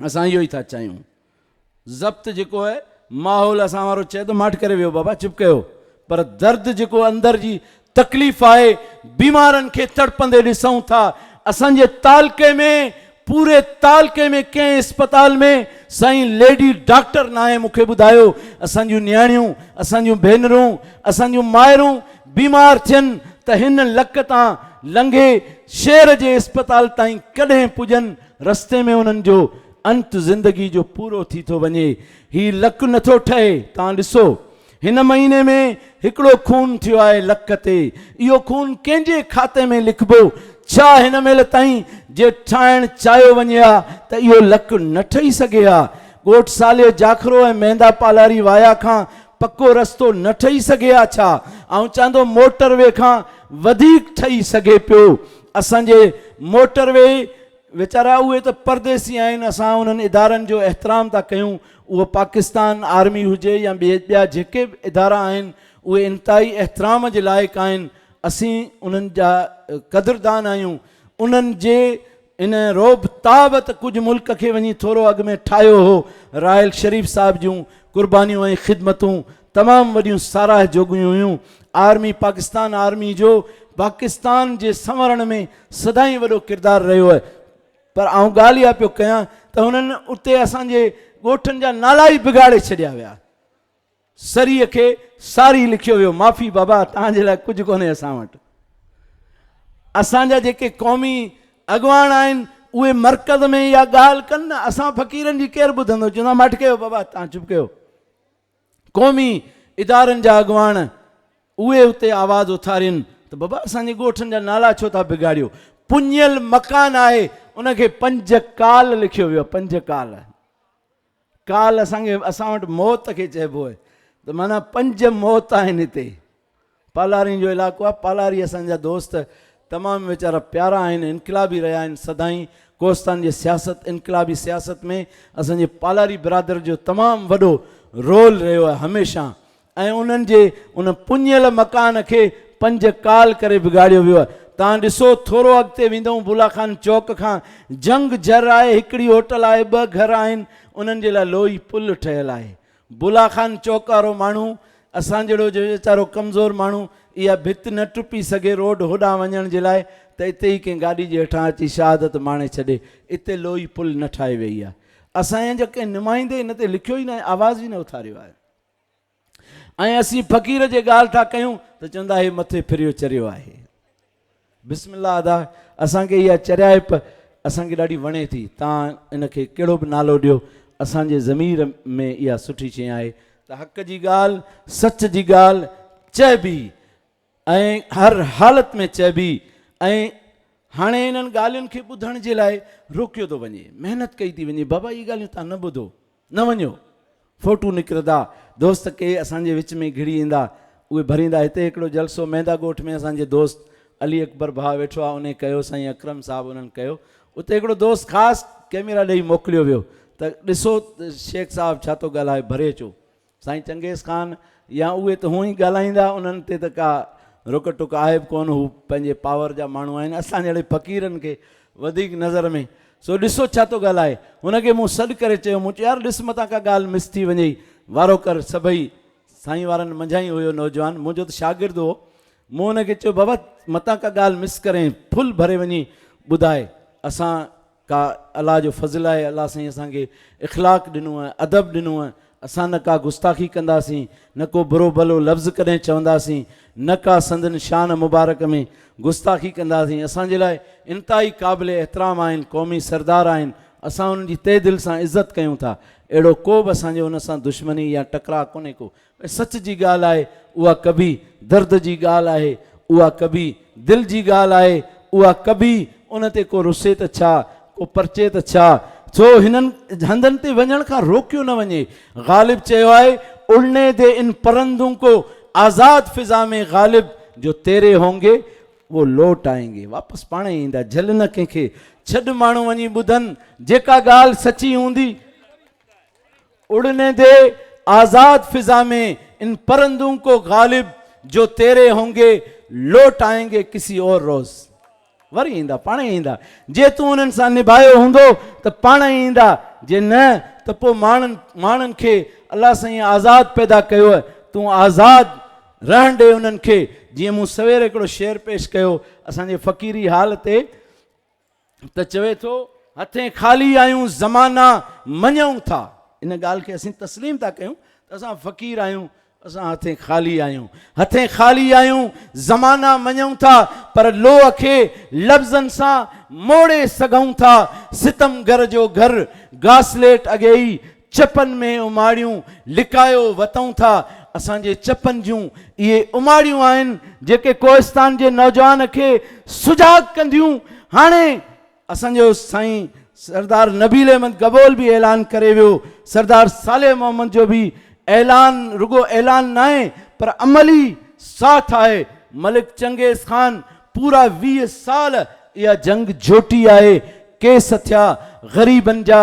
اسان اهو ئي ٿا چاهيون. ضبط جيڪو هي ماحول اسان وارو چئي ته ماٺ ڪري ويهو بابا چپ ڪيو پر درد جيڪو اندر جي تڪليف آهي بيمارن کي تڙپندي ڏسون ٿا اسان جي تعلقي ۾ پوري تعلقي ۾ ڪنهن اسپتال ۾ سائين ليڊي ڊاڪٽر ناهي مون کي ٻڌايو اسان جون نياڻيون اسان جون ڀينرون اسان جون مائرون بيمار ٿين ته هن لڪ تان لنگهي شهر جي اسپتال تائين ڪڏهن پڄن رستي ۾ انهن جو انت زندگي جو پورو ٿي ٿو وڃي. هي لڪ نه ٿو ٺهي. توهان ڏسو هن مهيني ۾ هڪڙو خون ٿيو آهي لڪ تي. اهو خون ڪنهن جي کاتي ۾ لکبو؟ ڇا هن مهل تائين جي ٺاهڻ چاهيو وڃي ها ته اهو لڪ نه ٺهي سگهي ها؟ ڳوٺ ساليو جاکرو ۽ مهندا پالاري وايا کان پڪو رستو نه ٺهي سگهي ها ڇا؟ آئون چاندو موٽر وي کان وڌيڪ ٺهي سگهي پيو. اسان جي موٽر وي ويچارا اهي ته پرديسي آهن اسان انهن ادارن جو احترام ٿا ڪيون اهو پاڪستان آرمي هجي يا ٻيا جيڪي به ادارا آهن اهي انتهائي احترام جي لائق آهن اسين انهن جا قدردان آهيون انهن جي ان روب تاب ته ڪجهه ملڪ کي وڃي ٿورو اڳ ۾ ٺاهيو هو راحل شريف صاحب جون قربانيون ۽ خدمتون تمام وڏيون ساراهه جوڳيون هيون. آرمي پاڪستان آرمي جو پاڪستان جي سنورڻ ۾ سدائين وڏو ڪردار رهيو آهي پر آئون ڳالهه اها پيو ڪيان ته هنن اتي اسان جي ڳوٺن جا نالا ئي بگاڙي ڇڏيا ويا سريء کي ساري لکيو ويو معافي بابا توهان جي لاء ڪجهه ڪونهي اسان وٽ اسان جا جيڪي قومي اڳواڻ آهن اهي مرڪز ۾ اها ڳالهه ڪن نه اسان فقيرن جي ڪير ٻڌندو چوندا ماٺ ڪيو بابا توهان چپ ڪيو قومي ادارن جا اڳواڻ اهي اتي آواز اٿارين ته بابا اسان جي ڳوٺن جا نالا ڇو ٿا بگاڙيو. پڃيل مڪان آهي ان کي پنج ڪال لکيو ويو آهي پنج ڪال ڪال اسان کي اسان وٽ موت کي چئبو آهي ته معنيٰ پنج موت آهن هتي. پالارين جو علائقو آ پالاري اسان جا دوست تمام ويچارا پيارا آهن انقلابي رهيا آهن سدائين ڪوهستان جي سياست انقلابي سياست ۾ اسان جي پالاري برادر جو تمام وڏو رول رهيو آهي هميشه ۽ انهن جي ان پڃيل مڪان کي پنج ڪال ڪري بگاڙيو ويو آهي توهان ڏسو ٿورو اڳتي ويندئون بولا خان چوڪ کان جنگ جر آهي هڪڙي هوٽل آهي ٻه گهر آهن انهن جي لاء لوهي پل ٺهيل آهي بلا خان چوڪ وارو ماڻهو اسان جهڙو جو ويچارو ڪمزور ماڻهو اها ڀت نه ٽپي سگهي روڊ هوڏانهن وڃڻ جي لاء ته اتي ئي ڪنهن گاڏي جي هيٺان اچي شهادت ماڻي ڇڏي اتي لوئي پل نه ٺاهي ويئي آهي اسان جا جو ڪنهن نمائندي ان تي لکيو ئي ناهي آواز ئي نه اٿاريو آهي ۽ اسين فقير جي ڳالهه ٿا ڪيون ته چوندا هي مٿي ڦريو چريو آهي بسم الله ادا اسان کي اها چريائپ اسان کي ڏاڍي وڻي ٿي تان ان کي ڪهڙو به نالو ڏيو اسان جي ضمير ۾ اها سٺي شي آهي ته حق جي ڳالهه سچ جي ڳالهه چئبي ۽ هر حالت ۾ چئبي ۽ هاڻي انهن ڳالهين کي ٻڌڻ جي لاء روڪيو ٿو وڃي محنت ڪئي ٿي وڃي بابا اهي ڳالهيون تان نه ٻڌو نه وڃو فوٽو نڪرندا دوست ڪي اسان جي وچ ۾ گهڙي ايندا اهي ڀريندا هتي هڪڙو جلسو ميندا ڳوٺ ۾ اسان جي دوست علي اڪبر ڀاء ويٺو آ انهي ڪيو سائين اڪرم صاحب انهن ڪيو اتي هڪڙو دوست خاص ڪيميرا ڏئي موڪليو ويو ته ڏسو شيخ صاحب ڇا ٿو ڳالهائي ڀري اچو سائين چنگيز خان يا اهي ته هونئن ئي ڳالهائيندا انهن تي ته ڪا رڪ ٽڪ آهي به ڪونه هو پنهنجي پاور جا ماڻهو آهن اسان جهڙي فقيرن کي وڌيڪ نظر ۾ سو ڏسو ڇا ٿو ڳالهائي هن کي مون سڏ ڪري چيو مون چيو يار ڏس متان ڪا ڳالهه مس ٿي وڃئي وارو ڪر سڀئي سائين وارن منجهان ئي هيو نوجوان منهنجو ته شاگرد هو مون هن کي چيو بابا متان ڪا ڳالهه مس ڪرين ڦل ڀري وڃي ٻڌاء اسان ڪا الله جو فضل آهي الله سائين اسان کي اخلاق ڏنو آهي ادب ڏنو آهي اسان نه ڪا گستاخي ڪنداسين نه ڪو برو ڀلو لفظ ڪڏهن چونداسين نه ڪا سندن شان مبارڪ ۾ گستاخي ڪنداسين اسان جي لاء انتهائي قابل احترام آهن قومي سردار آهن اسان انهن جي تهه دل سان عزت ڪيون ٿا اهڙو ڪو به اسان جو ان سان دشمني يا ٽڪراء ڪونهي ڪو ۽ سچ جي ڳالهه آهي، اها ڪبي درد جي ڳالهه آهي، اها ڪبي دل جي ڳالهه آهي، اها ڪبي ان تي ڪو رسي ته ڇا، ڪو پرچي ته ڇا، ڇو هنن هنڌن تي وڃڻ کان روڪيو نه وڃي. غالب چيو آهي، اڙني دي ان پرندون ڪو، آزاد فضا ۾ غالب جو تيري هونگي وو لوٽ آئين گي، واپس پاڻ ئي ايندا، جهل نه ڪنهن کي، ڇڏ ماڻهو وڃي ٻڌن، جيڪا ڳالهه سچي هوندي، اڙني دي آزاد فضا مين ان پرندون ڪو غالب جو تيري هونگي لوٽ آئين گي ڪسي اور روز وري ايندا پاڻ ئي ايندا جي تون انهن سان نڀايو هوندو ته پاڻ ئي ايندا جي نه ته پو ماڻن ماڻن کي الله سائين آزاد پيدا ڪيو تون آزاد رهڻ ڏي انهن کي جيئن مون سوير هڪڙو شعر پيش ڪيو اسان جي فقيري حال تي ته چوي ٿو، هٿين خالي آهيون زمانا مڃئون ٿا. ان ڳالهه کي اسين تسليم ٿا ڪيون ته اسان فقير آهيون، اسان هٿين خالي آهيون. هٿين خالي آهيون زمانا مڃئون ٿا پر لوهه کي لفظن سان موڙي سگهئون ٿا. ستمگر جو گهر گاسليٽ اڳي ئي چپن ۾ اماڙيون لڪايو وتئون ٿا، اسان جي چپن جون اهي اماڙيون آهن جيڪي ڪوهستان جي نوجوان کي سجاڳ ڪنديون، هاڻي اسان جو سائين سردار نبيل احمد گبول به اعلان ڪري ويو، سردار صالح محمد جو به اعلان رڳو اعلان ناهي پر عملي ساٿ آهي، ملڪ چنگيز خان پورا ويهه سال اها جنگ جهوٽي آهي، ڪيس ٿيا غريبن جا،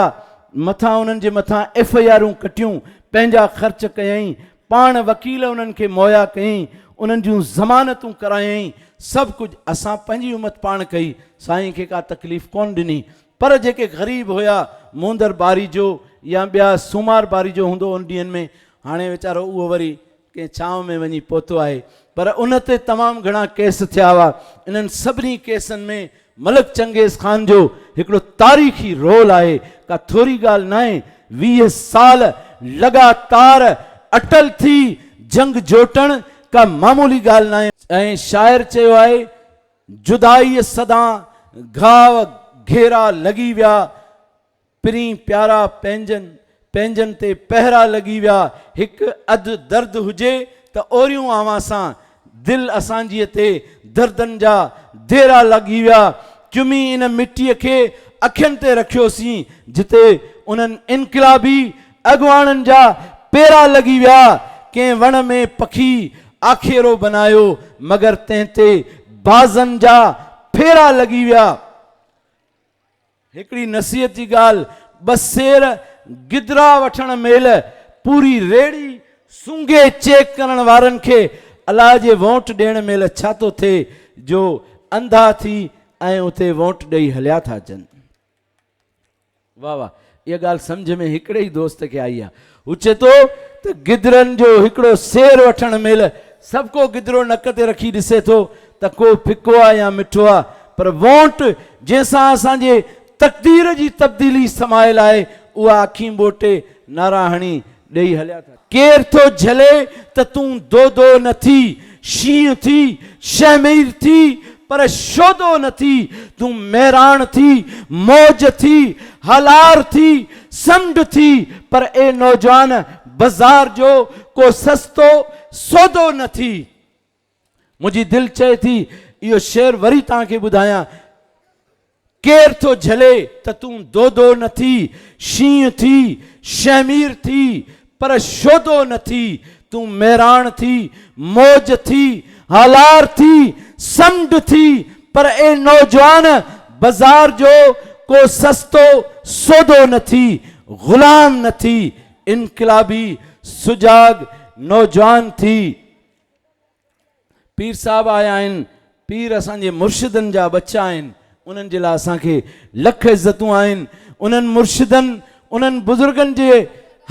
مٿان انهن جي مٿان ايف اي آرون ڪٽيون، پنهنجا خرچ ڪيائين، پاڻ وڪيل انهن کي مهيا ڪيائين، انهن جون ضمانتون ڪرايائين، سڀ ڪجهه اسان پنهنجي همت پاڻ ڪئي، سائين کي ڪا تڪليف ڪونه ڏني، پر جيڪي غريب هيا، موندر باري جو يا ٻيا سومار باري جو هوندو ان ڏينهن ۾ هاڻي ويچارو اهو وري ڪنهن ڇانو ۾ وڃي پهتو آهي پر ان تي تمام گهڻا ڪيس ٿيا هئا انهن سڀني ڪيسن ۾ ملڪ چنگيز خان جو هڪڙو تاريخي رول آهي ڪا ٿوري ڳالهه ناهي ويهه سال لڳاتار اٽل ٿي جنگ جوٽڻ ڪا معمولي ڳالهه ناهي ۽ شاعر چيو آهي جدائيء سدان گهاء گهيرا لڳي ويا. پرين پيارا پنهنجن پنهنجن تي پهرا لڳي ويا هڪ اڌ درد هجي ته اوريون اوهان سان دل اسان جي تي دردن جا ديرا لڳي ويا چمي ان مٽي کي اکين تي رکيوسين جتي انهن انقلابي اڳواڻن جا پيرا لڳي ويا ڪنهن وڻ ۾ پکي آکيرو بنايو مگر تنهن تي بازن جا ڦيرا لڳي ويا. هڪڙي نصيحت جي ڳالهه، ٻه سير گدرا وٺڻ مهل پوري ريڙهي سونگهي چيڪ ڪرڻ وارن کي الاء جي وونٽ ڏيڻ مهل ڇا ٿو ٿئي جو انڌا ٿي ۽ اتي وونٽ ڏئي هليا ٿا اچن. واهه واهه اها ڳالهه سمجهه ۾ هڪڙي ئي دوست کي آئي ها. هو چئي ٿو ته گدرن جو هڪڙو سير وٺڻ مهل سڀڪو گدرو نڪ تي رکي ڏسي ٿو ته ڪوئي ڦڪو آ يا مٺو آ پر وونٽ جنهن سان اسان جي تقدير جي تبديلي سمايل آهي اها اکيون ٻوٽي نعرا هڻي ڏيئي هليا ٿا. ڪير ٿو جهلي ته تون دودو نه ٿي، شينهن ٿي، شهمير ٿي پر شودو نه ٿي، تون ميراڻ ٿي، موج ٿي، هلار ٿي، سمنڊ ٿي پر اي نوجوان بزار جو ڪو سستو سودو نه ٿي. منهنجي دل چئي ٿي اهو شعر وري توهان کي ٻڌايان ڪير ٿو جهلي ته تون دودو نه ٿي شينهن ٿي شهمير ٿي پر شودو نه ٿي تون ميراڻ ٿي موج ٿي هالار ٿي سمنڊ ٿي پر اي نوجوان بازار جو ڪو سستو سودو نه ٿي غلام نه ٿي انقلابي سجاڳ نوجوان ٿي پير صاحب آيا آهن، پير اسان جي مرشدن جا ٻچا آهن، انهن جي لاء اسان کي لک عزتون آهن، انهن مرشدن، انهن بزرگن جي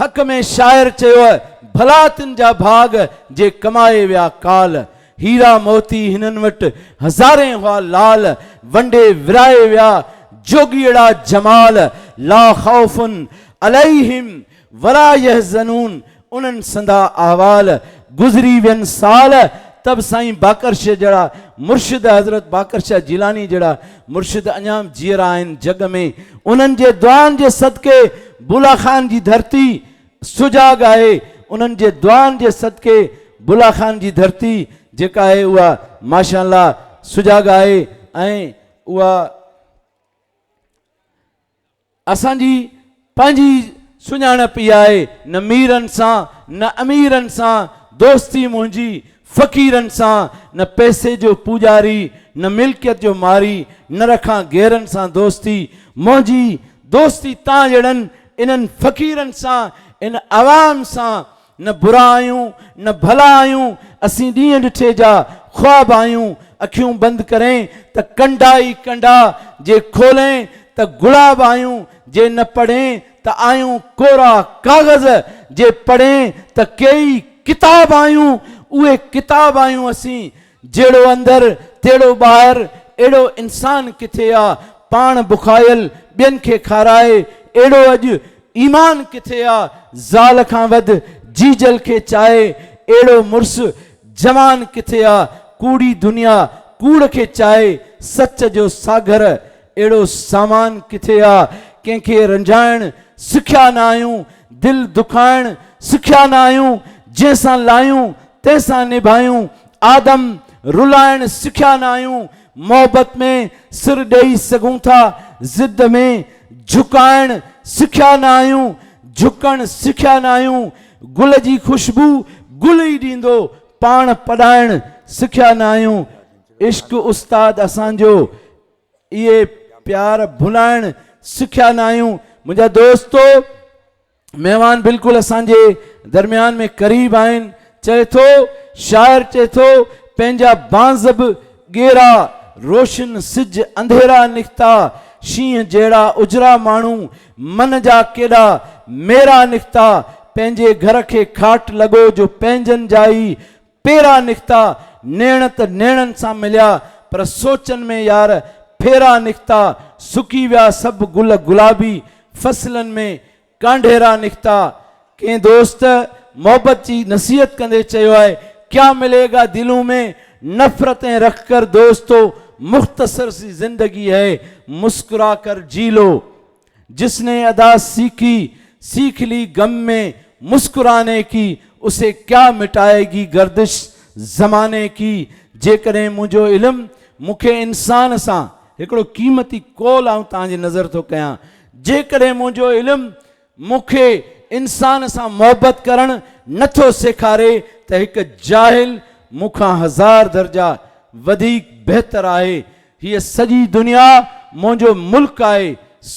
حق ۾ شاعر چيو ڀلا تن جا ڀاڳ جي ڪمائي ويا ڪال، هيرا موتي هنن وٽ هزارين هئا لال، ونڊي ورائي ويا جوڳيئڙا جمال، لا خوف عليهم ولا يحزنون انهن سندا احوال گذري وين سال تب سائين باقرشه جهڙا مرشد حضرت باقرشه جيلاني جهڙا مرشد اڃا جيئرا آهن جڳ ۾ انهن جي دعائن جي صدقي بولا خان جي ڌرتي سجاڳ آهي انهن جي دعائن جي صدقي بولا خان جي ڌرتي جيڪا آهي اها ماشاء الله سجاڳ آهي ۽ اها اسان جي پنهنجي ئي سڃاڻپ اها آهي، نه ميرن سان، نه اميرن سان دوستي منهنجي، فقيرن سان نه پئسي جو پوڄاري، نه ملڪيت جو ماري، نه رکان غيرن سان دوستي، منهنجي دوستي تان جهڙن انهن فقيرن سان، ان عوام سان، نه برا آهيون نه ڀلا آهيون، اسين ڏينهن ڏٺي جا خواب آهيون، اکيون بند ڪرين ته ڪنڊا ئي ڪنڊا، جي کولين ته گلاب آهيون، جي نه پڙهين ته آهيون ڪورا ڪاغذ، جي پڙهين ته ڪيئي ڪتاب آهيون، اهي ڪتاب آهيون اسين، جهڙو اندر تهڙو ٻاهر، اهڙو انسان ڪٿي آ، پاڻ بکايل ٻين کي کارائي، اهڙو اڄ ايمان ڪٿي آ، زال کان وڌ جيجل کي چاهي، اهڙو مڙس جوان ڪٿي آ، ڪوڙي دنيا ڪوڙ کي چاهي، سچ جو ساگهر اهڙو سامان ڪٿي آ، ڪنهن کي رنجائڻ سکيا نه آهيون، دل دکائڻ سکيا نه آهيون، جنهن سان لاهيون تنهن سان نڀايون، آدم رلائڻ سکيا نه آهيون، محبت ۾ سر ڏئي سگهون ٿا، ضد ۾ جهڪائڻ سکيا نه آهيون، جهڪڻ سکيا نه آهيون، گل جي خوشبو گل ئي ڏيندو، پاڻ پڏائڻ سکيا نه آهيون، عشق استاد اسان جو. اهي پيار ڀلائڻ سکيا ناهيون منهنجا دوستو مهمان بلڪل اسان جي درميان ۾ قريب آهن چئي ٿو شاعر چئي ٿو پنهنجا بانز به ڳيرا روشن سج انڌيرا نڪتا شينهن جهڙا اجرا ماڻهو من جا ڪيڏا ميرا نڪتا پنهنجي گهر کي کاٽ لڳو جو پنهنجن جا ئي پيرا نڪتا، نيڻ ته نيڻن سان مليا، پر سوچن ۾ يار ڦيرا نڪتا، سڪي ويا سڀ گل گلابي، فصلن ۾ ڪانڍيرا نڪتا. ڪنهن دوست محبت جي نصيحت ڪندي چيو آهي، ڪيا ملي گا دلون مين نفرتين رک ڪر دوستو مختصر سي زندگي هي مسڪرا ڪر جي لو جس ني ادا سيکي سيکھ لي غم مين مسڪرانے ڪي اسي ڪيا مٽائي گي گردش زماني ڪي جيڪڏهن منهنجو علم مون کي انسان سان هڪڙو قيمتي قول آئون توهان جي نظر ٿو ڪيان جيڪڏهن منهنجو علم مون کي انسان سان محبت ڪرڻ نه ٿو سيکاري ته هڪ جاهل مون کان هزار درجا وڌيڪ بهتر آهي هيء سڄي دنيا منهنجو ملڪ آهي،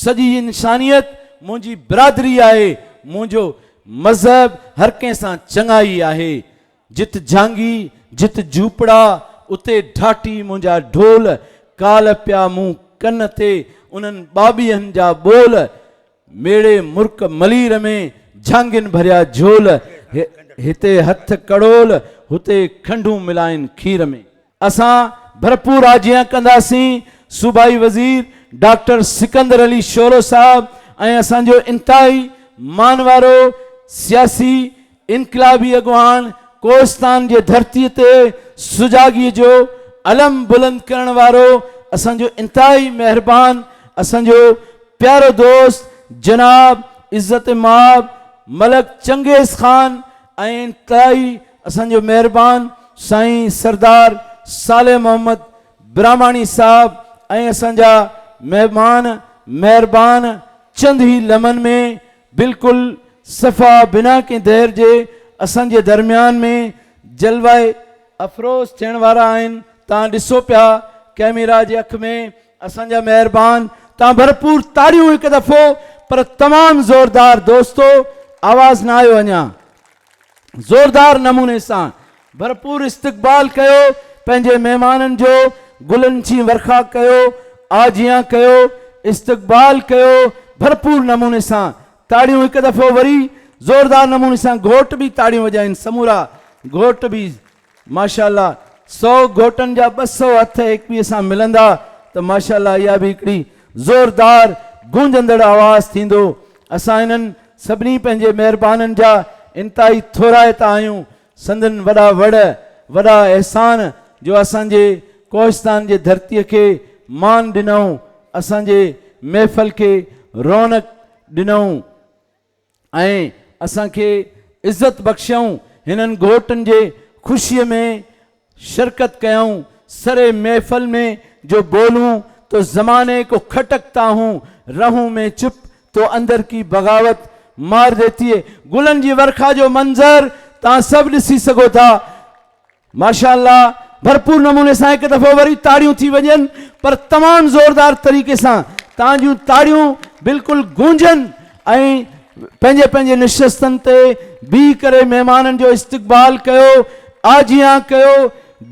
سڄي انسانيت منهنجي برادري آهي، منهنجو مذهب هر ڪنهن سان چڱائي آهي. جت جهانگي، جت جهوپڙا، اتي ڍاٽي منهنجا ڍول، ڪالهه پيا مون ڪن تي انهن ٻاٻيهن جا ٻول، ميڙي مرڪ ملير ۾ جهانگين ڀريا جهول، هتي هٿ ڪڙول، هتي کنڊون ملائين کير ۾. اسان ڀرپور آجيان ڪنداسين، صوبائي وزير ڊاڪٽر سڪندر علي شورو صاحب ۽ اسان جو انتهائي مان وارو سياسي انقلابي اڳواڻ ڪوهستان جي ڌرتي تي سجاڳي جو علم بلند ڪرڻ وارو اسان جو انتهائي مهربان اسان جو پيارو دوست جناب عزت مآب ملڪ چنگيز خان ۽ انتهائي اسان جو مهربان سائين سردار صالح محمد براهماڻي صاحب ۽ اسان جا مهمان مهربان چند هي لمحن ۾ بلڪل صفا بنا ڪنهن دير جي اسان جي درميان ۾ جلوه افروز ٿيڻ وارا آهن تان ڏسو پيا ڪئميرا جي اک ۾ اسان جا مهربان توهان ڀرپور تاڙيون هڪ دفعو پر تمام زوردار دوستو آواز نه آيو اڃا زوردار نموني سان ڀرپور استقبال ڪيو پنهنجي مهمانن جو گلن جي ورکا ڪيو آجيان ڪيو استقبال ڪيو ڀرپور نموني سان تاڙيون هڪ دفعو وري زوردار نموني سان گهوٽ به تاڙيون وڄائين سمورا گهوٽ به ماشاءالله سؤ گهوٽن جا ٻه سؤ هٿ ايڪپيء سان ملندا ته ماشاءالله اها به هڪڙي زوردار گونجندڙ آواز ٿيندو. اسان انهن سڀني پنهنجي مهربانن جا انتهائي ٿورائتا آهيون. سندن وڏا وڙ، وڏا احسان جو اسان جي ڪوهستان جي ڌرتيء کي مان ڏنئون، اسان جي محفل کي رونق ڏنئون. ۽ اسان کي عزت بخشيائون هنن گهوٽن جي خوشي ۾ شرڪت ڪيائون سري محفل ۾ جو بولون تو زماني ڪو کٽڪتا هون رهون مين چپ تو اندر ڪي بغاوت مار ديتي هي گلن جي ورکا جو منظر توهان سڀ ڏسي سگهو ٿا. ماشاء الله ڀرپور نموني سان هڪ دفعو وري تاڙيون ٿي وڄن پر تمام زوردار طريقي سان تان جون تاڙيون بلڪل گونجن ۽ پنهنجي پنهنجي نشستن تي بيهي ڪري مهمانن جو استقبال ڪيو آجيان ڪيو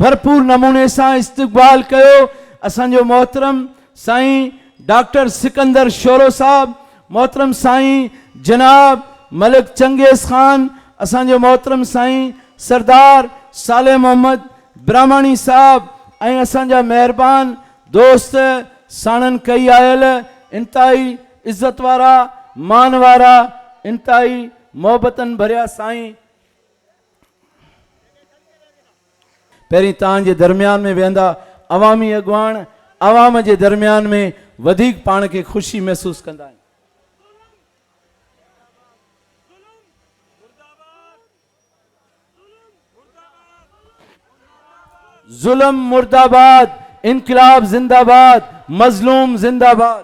ڀرپور نموني سان استقبال ڪيو اسان جو محترم سائين ڊاڪٽر سڪندر شورو صاحب، محترم سائين جناب ملڪ چنگيز خان، اسان جو محترم سائين سردار صالح محمد براهماڻي صاحب ۽ اسان جا مهربان دوست ساڻن ڪئي آيل انتهائي عزت وارا مان وارا انتهائي محبتن ڀريا سائين پهرين توهان جي درميان ۾ ويهندا عوامي اڳواڻ عوام جي درميان ۾ وڌيڪ پاڻ کي خوشي محسوس ڪندا آهن. ظلم مرداباد انقلاب زنداباد مظلوم زنداباد.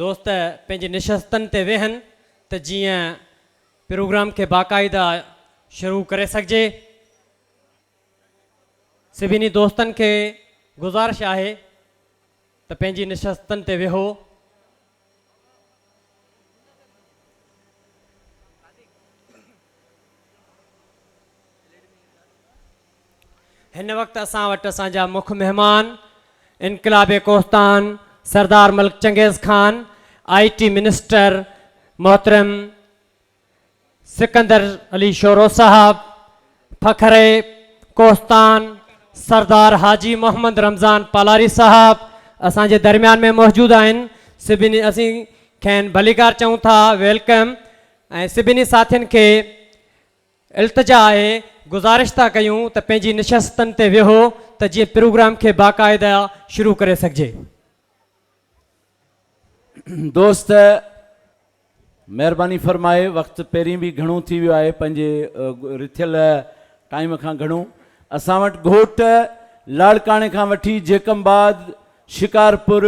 دوست پنهنجي نشستن تي ويهن ته جيئن پروگرام کي باقاعده شروع ڪري سگهجي. سڀني دوستن کي گذارش آهي ته پنهنجي نشستن تي ويهو. هن وقت اسان وٽ اسان جا مک مهمان انقلاب Kohistan Sardar Malik Changez Khan I T minister محترم سڪندر علي شورو صاحب، فخري ڪوهستان، سردار حاجي محمد رمضان پالاري صاحب اسان جي درميان ۾ موجود آهن سڀني اسين کين ڀليڪار چئون ٿا ويلڪم ۽ سڀني ساٿين کي التجا آهي گذارش ٿا ڪيون ته پنهنجي نشستن تي ويهو ته جيئن پروگرام کي باقائده شروع ڪري سگهجي. دوست مهرباني فرمائي وقت پهرين به گهڻو ٿي ويو آهي پنهنجي رٿيل ٽائيم کان گهڻو اسان وٽ گهوٽ لاڙڪاڻي کان وٺي جيڪم آباد شڪارپور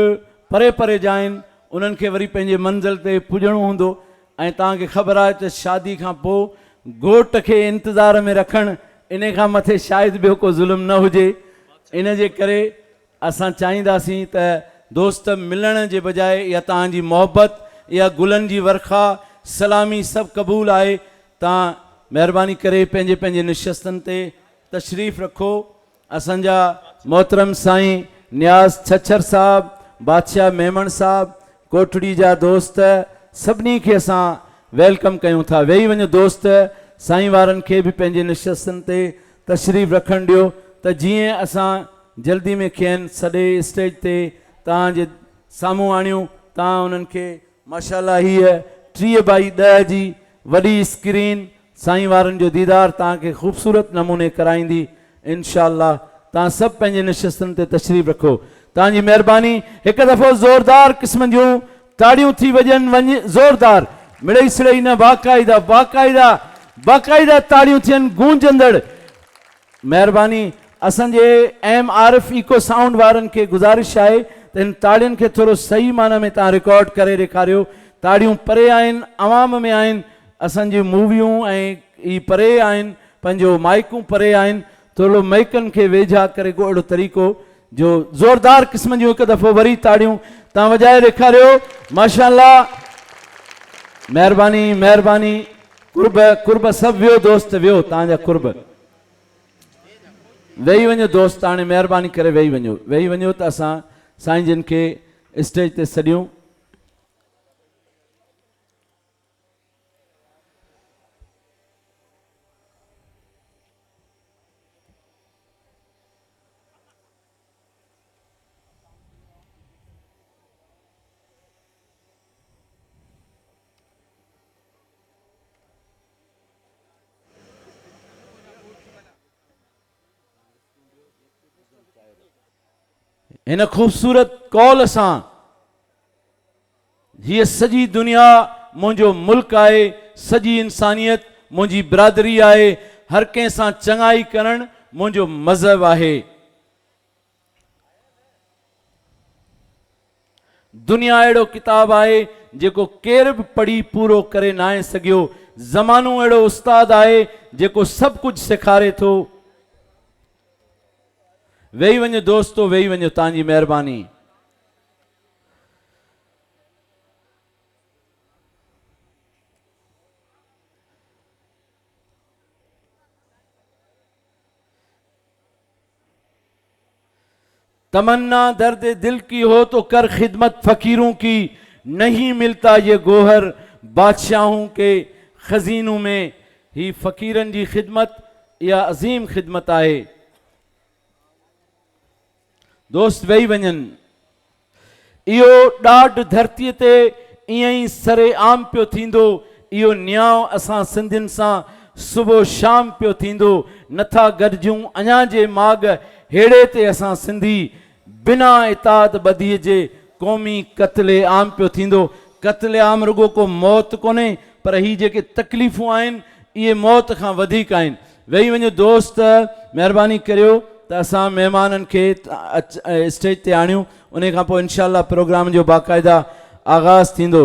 پري پري جا آهن انهن کي وري پنهنجي منزل تي پڄڻو هوندو ۽ توهان کي خبر آهي ته شادي کان پوء گهوٽ کي انتظار ۾ رکڻ انهي کان مٿي شايد ٻيو ڪو ظلم نه هجي ان جي ڪري اسان چاهينداسين ته دوست ملڻ جي بجاء اها توهان جي محبت، اها گلن جي ورکا، سلامي سڀ قبول آهي. توهان مهرباني ڪري پنهنجي پنهنجي نشستن تي تشريف رکو. اسان جا محترم سائين نياز ڇڇر صاحب، بادشاهه ميمڻ صاحب، ڪوٽڙي جا دوست سڀني کي اسان ويلڪم ڪيون ٿا ويهي وڃو دوست سائين وارن کي به پنهنجي نشستن تي تشريف رکڻ ڏيو ته جيئن اسان جلدي ۾ کين سڏي اسٽيج تي توهان جي سامهون آڻيون توهان انهن کي ماشاءالله هيء ٽيهه بائي ڏهه جي وڏي اسڪرين سائين وارن جو ديدار توهان کي خوبصورت نموني ڪرائيندي انشاء الله توهان سڀ پنهنجي نشستن تي تشريف رکو توهان جي مهرباني هڪ دفعو زوردار قسم جون تاڙيون ٿي وڄن وڃ زوردار مڙئي سڙئي نه باقاعده باقاعده باقاعده تاڙيون ٿين گونجندڙ مهرباني اسان جي ايم عارف ايڪو سائونڊ وارن کي گذارش آهي ته هن تاڙين کي ٿورو صحيح معنيٰ ۾ تان رڪارڊ ڪري ڏيکاريو تاڙيون پري آهن عوام ۾ آهن اسان جون موويون ۽ هي پري آهن پنهنجو مائيڪون پري آهن ٿورڙو مئيڪن کي ويجها ڪري ڪو اهڙو طريقو جو زوردار قسم جون هڪ دفعو وري تاڙيون تان وڄائي ڏيکاريو ماشاء الله مهرباني مهرباني قرب قرب سڀ ويو دوست ويو تان جا قرب ويهي وڃو دوست هاڻي مهرباني ڪري ويهي وڃو ويهي وڃو ته اسان سائين جن کي اسٽيج تي سڏيون هن خوبصورت قول سان هيء سڄي دنيا منهنجو ملڪ آهي، سڄي انسانيت منهنجي برادري آهي، هر ڪنهن سان چڱائي ڪرڻ منهنجو مذهب آهي. دنيا اهڙو ڪتاب آهي جيڪو ڪير به پڙهي پورو ڪري ناهي سگهيو. زمانو اهڙو استاد آهي جيڪو سڀ ڪجهه سيکاري ٿو. ويهي وڃو دوستو ويهي وڃو تان جي مهرباني. تمنا درد دل ڪي هو تو ڪر خدمت فقيرون ڪي نهين ملتا يه گوهر بادشاهون ڪي خزينون ۾ هي فقيرن جي خدمت اها عظيم خدمت آهي دوست ويهي وڃن. اهو ڏاڍ ڌرتيء تي ائين ئي سر عام پيو ٿيندو، اهو نيانء اسان سنڌين سان صبح و شام پيو ٿيندو، نٿا گڏجون اڃا جي ماڳ هيڙي تي اسان سنڌي بنا اتحاد ٻڌيء جي قومي قتل عام پيو ٿيندو. قتل عام رڳو ڪو موت ڪونهي، پر هي جيڪي تڪليفون آهن، اهي موت کان وڌيڪ آهن. ويهي وڃو دوست مهرباني ڪريو ته اسان مهمانن کي اسٽيج تي آڻيون انهي کانپوء انشاء الله پروگرام جو باقاعده آغاز ٿيندو.